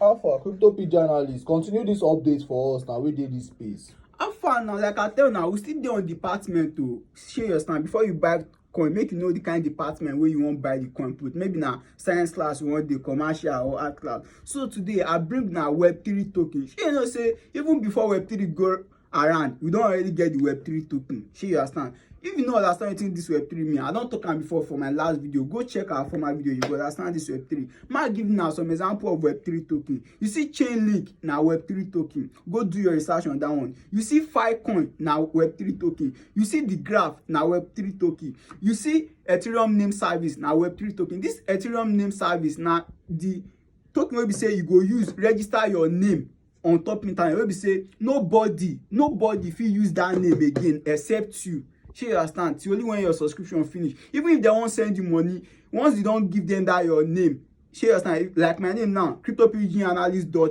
Alpha, crypto pidgin analyst, continue this update for us now. We did this space. Alpha now, like I tell now, we still there on department to share your stand before you buy coin make you know the kind department where you wan buy the coin put maybe na science class you wan dey commercial or art class so today i bring na web three token shey you know say even before web three go around we don already get the web3 token shey you understand if you no understand wetin this web3 mean i don talk am before for my last video go check our former video you go understand this web3 ma give una some example of web3 token you see chainlink na web3 token go do your research on that one you see filecoin na web3 token you see the graph na web3 token you see ethereum name service na web3 token this ethereum name service na the token wey be say you go use register your name on top internet wey be say nobody nobody fit use that name again except you shey you understand till only when your subscription finish even if dem wan send you money once you don give them that your name shey you understand like my name now crypto pg analyst dot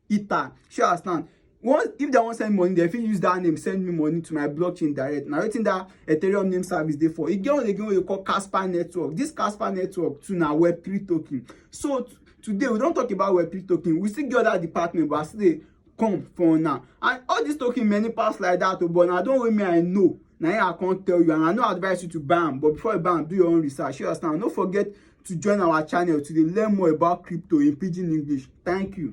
ether shey you understand once if dem wan send money dem fit use that name send me money to my blockchain direct na wetin that ethereum name service dey for e get one again wey dey call casper network this casper network too na web three token so today we don talk about web3 token we still get other department but i still dey come for una and all this token many pass like that o oh, but na don wey me i know na here i come tell you and i no advise you to buy am but before you buy am do your own research you understand no forget to join our channel to dey learn more about crypto in pidgin english thank you